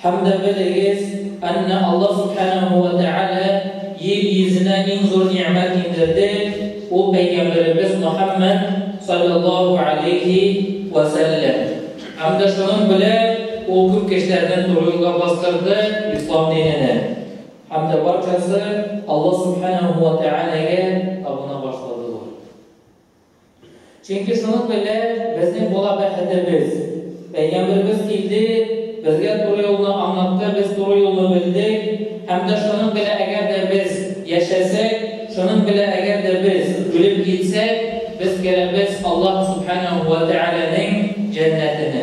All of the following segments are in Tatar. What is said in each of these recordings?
Һәм дә белегез, әннә Аллаһ Сүбхәнәһү вә Тәгалә йир йөзенә иң зур нигъмәт иңдерде, ул пәйгамбәребез Мөхәммәд, салләллаһу галәйһи вә сәлләм. Һәм дә шуның белән ул күп кешеләрне туры юлга бастырды, ислам диненә. Һәм дә барчасы Аллаһ Сүбхәнәһү вә Тәгаләгә табына башладылар. Чөнки шуның белән безнең була бәхетебез. Пәйгамбәрбез килде, безгә туры юлны аңлатты, без туры юлны белдек, һәм дә шуның белән әгәр дә без яшәсәк, шуның белән әгәр дә без үлеп китсәк, без керәбез Аллаһ Субханәһу ва Тәгаләнең җәннәтенә.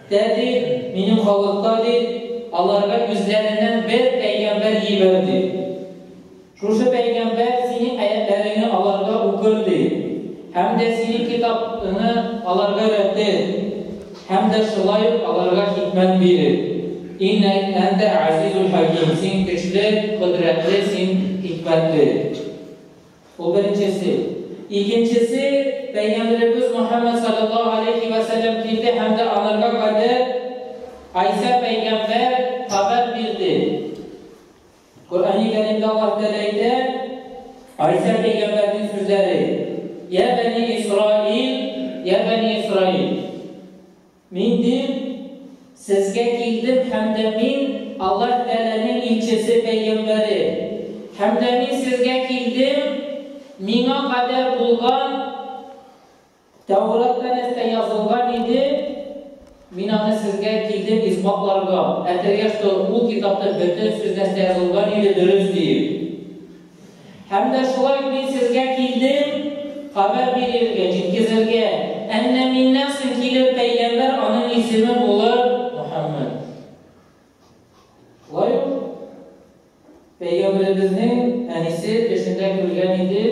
Тәти, минем халыкта, ди, аларга үзләреннән бер пәйгамбәр җибәр, ди. Шушы пәйгамбәр синең аятьләреңне аларга укыр, ди, һәм дә синең китабыңны аларга өйрәтер, һәм дә шулай ук аларга хикмәт бирер. Иннәк әнтә әзизул хәким, син көчле, кодрәтле, син хикмәтле. Бу беренчесе. Икенчесе, Пәйгамберебез Мөхәммәд салләллаһу галәйһи вә сәлләм килде һәм дә аларга кадәр Гайсә пәйгамбәр хәбәр бирде. Коръәни Кәримдә Аллаһ Тәгалә әйтә, Гайсә пәйгамбәрнең сүзләре, Я бәни Исраил, я бәни Исраил. Мин дин сезгә килдем һәм дә мин Аллаһ Тәгаләнең илчесе, пәйгамбәре. Һәм дә мин сезгә килдем миңа кадәр булган Тәүратта нәрсә язылган иде, мин аны сезгә килдем исбатларга, әйтергә, что ул китапта бөтен сүз нәрсә язылган иде дөрес диеп. Һәм дә шулай мин сезгә килдем, хәбәр бирергә, җиткезергә, әннә миннән соң килер пәйгамбәр, аның исеме булыр Мөхәммәд. Шулай ук пәйгамбәребезнең әнисе төшендә күргән иде,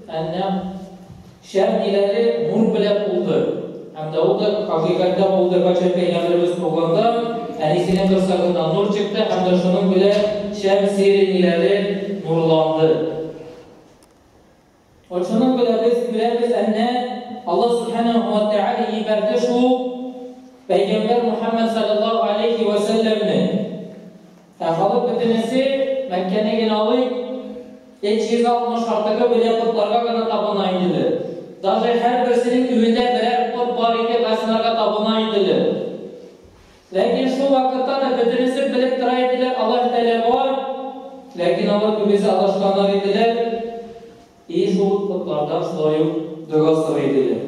әннә Шәп биләле нур белән тулды. Һәм дә ул да хакыйкатьтә булды, кайчак Пәйгамбәребез туганда, әнисенең корсагыннан нур чыкты һәм дә шуның белән шәп сире ниләре нурланды. Вот шуның белән без күрәбез, әннә Аллаһ Субханаһу ва Тәгалә җибәрде шул Пәйгамбәр Мухаммад саллаллаһу алейхи ва сәлләмне. Ә халык бөтенесе, Мәккәне генә алыйк, эт 160 артыгы белән потларга гына табына иделәр. Даже һәрберсенең өендә берәр пот бар иде, кайсыларга табына иделәр. Ләкин шул вакытта да бөтенесе белеп тора иделәр, Аллаһ Тәгалә бар, ләкин алар күбесе адашканнар иделәр, и шул потлардан шулай ук дога сорый иделәр.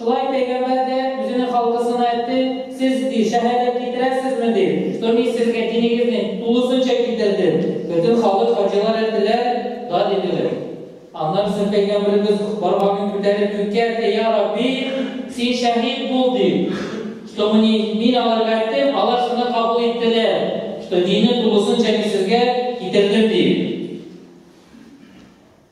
Шулай пәйгамбәр дә үзенең халкысына әйтте, Сез, ди, шәһәдәт китерәсезме, ди, что мин сезгә динегезне тулысынча китердем. Бөтен халык хаҗилар әйттеләр, Да, диделәр. Аннары соң пәйгамбәребез бармагын күтәреп күккә әйтте, Я Рабби, Син шәһит бул, ди, что мне, мин аларга әйттем, алар шуны кабул иттеләр, что динне тулысынча мин сезгә китердем, ди.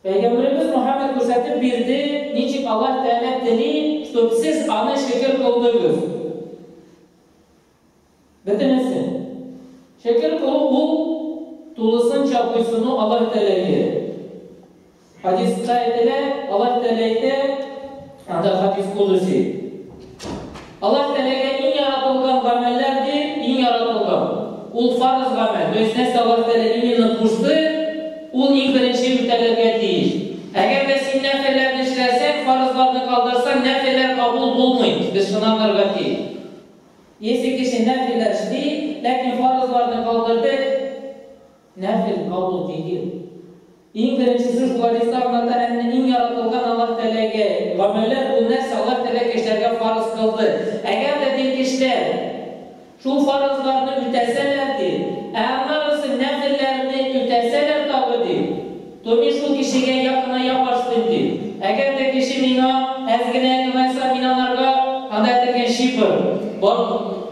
Пәйгамбәребез Мөхәммәд күрсәтеп бирде, ничек Аллаһ Тәгалә тели, чтоб сез Аны шөкер кылдыгыз. Бөтенесе. Шөкер кылу ул тулысынча буйсыну Аллаһ Тәгаләгә. Хадиска әйтелә, Аллаһ Тәгалә әйтә, Анда хадис кудуси. Аллаһ Тәгаләгә иң яратылган гамәлләр ди, иң яратылган. Ул фарыз гамәл. То есть нәрсә Аллаһ Тәгалә именно кушты, ул иң беренче үтәлергә тиеш. Әгәр дә син нәфелләрне эшләсәң, фарызларны калдырсаң, нәфелләр кабул булмый. Без шуны аңларга тиеш. Если кеше нәфелләр эшли, ләкин фарызларны калдырды, Нәфел, кабул тигез. Иң беренчесе шул хадиста аңлата, әннә иң яратылган Аллаһ теләге, гамәлләр, ул нәрсә, Аллаһ теләк кешеләргә фарыз кылды. Әгәр дә ди кешеләр шул фарызларны үтәсәләр ди, ә аннарысы нәфелләрне үтәсәләр тагы ди, Тони шул кешегә якыная башлыйм, ди. Әгәр дә кеше миңа әз генә ымәнса, мин анарга, анда этелгән шифр, бар,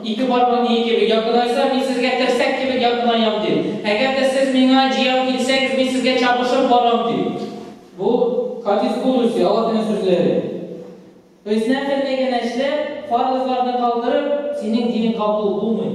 ике бармак ие кебек якынайса, мин сезгә терсәк кебек якынаям, ди. Әгәр дә сез миңа җәяү килсәгез, мин сезгә чабышып барам, ди. Бу, хадис булучы, Аллаһының сүзләре. Өснә бердәй генә эшләп, фарызларны калдырып, синең динең кабул булмый.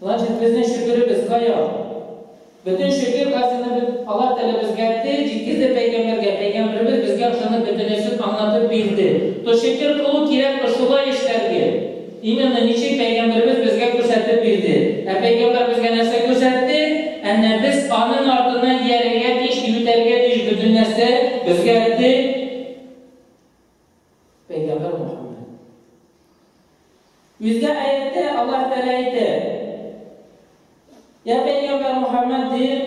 Значит, безнең шөкеребез кая? Бөтен шөкер хәзинебез Аллаһ Тәгалә безгә тел җиткерде пәйгамбәргә, пәйгамбәребез безгә ошаны бөтенесен аңлатып бирде. То шөкер кылу кирәк ошулай эшләргә. Именно ничек пәйгамбәребез безгә күрсәтеп бирде. Ә пәйгамбәр безгә нәрсә күрсәтте? Әнә без аның артыннан иярергә тиеш, ютәрергә тиеш бөтен нәрсә безгә тел. Пәйгамбәр Мөхәммәд. Үзгә аятьтә Аллаһ Тәгалә әйтә, Я Пәйгамбәр Мөхәммәд дип,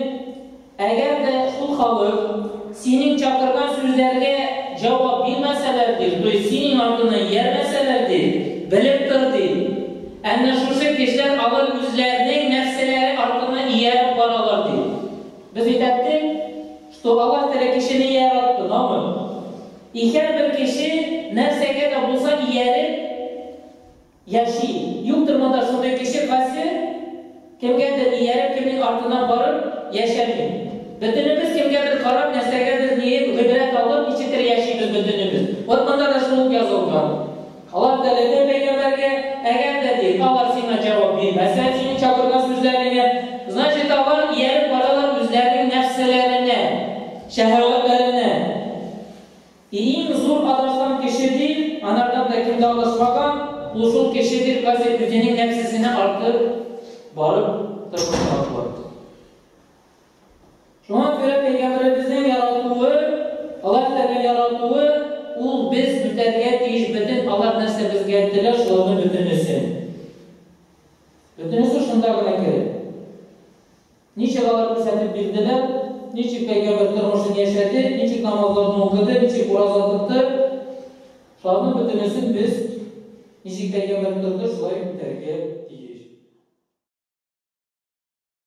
әгәр дә шул халык синең чакырган сүзләргә җавап бирмәсәләр дип, то есть синең артына иярмәсәләр дип, белеп тор ди. Әнә шушы кешеләр алар үзләренең нәрсәләре артына ияреп баралар ди. Без бит әйттек, Что Аллаһ Тәгалә кешене яратты, намы. И һәрбер кеше нәрсәгә дә булса ияреп яши. Юктыр монда шундый кеше кайсы кемгәдер ияреп, кемнең артыннан барып яшәми. Бөтенебез кемгәдер карап, нәрсәгәдер ниеп, гыйбрәт алып, ничектер яшибез бөтенебез. Вот монда да шул ук язылган. Алар теләде пәйгамбәргә, әгәр дә, ди, алар сиңа җавап бирмәсә, сине чакырган сүзләреңә, значит, алар ияреп баралар үзләренең нәфселәренә, шәһәвәтләренә. И иң зур адашкан кеше, ди, анардан да кем дә адашмаган, ул шул кеше, ди, кайсы үзенең нәфсесенә артып барып тырмыша атлар. Шуңа күрә Пәйгамбәребезнең яратуы, Аллаһ Тәгалә яратуы, ул без үтәргә тиеш бөтен Аллаһ нәрсә безгә теләр, шуларның бөтенесен. Бөтенесе шунда гына керә. Ничек алар күрсәтеп бирделәр, ничек Пәйгамбәр тормышын яшәде, ничек намазларны укыды, ничек ураза тотты, шуларның бөтенесен без ничек Пәйгамбәр торды, шулай үтәргә тиеш.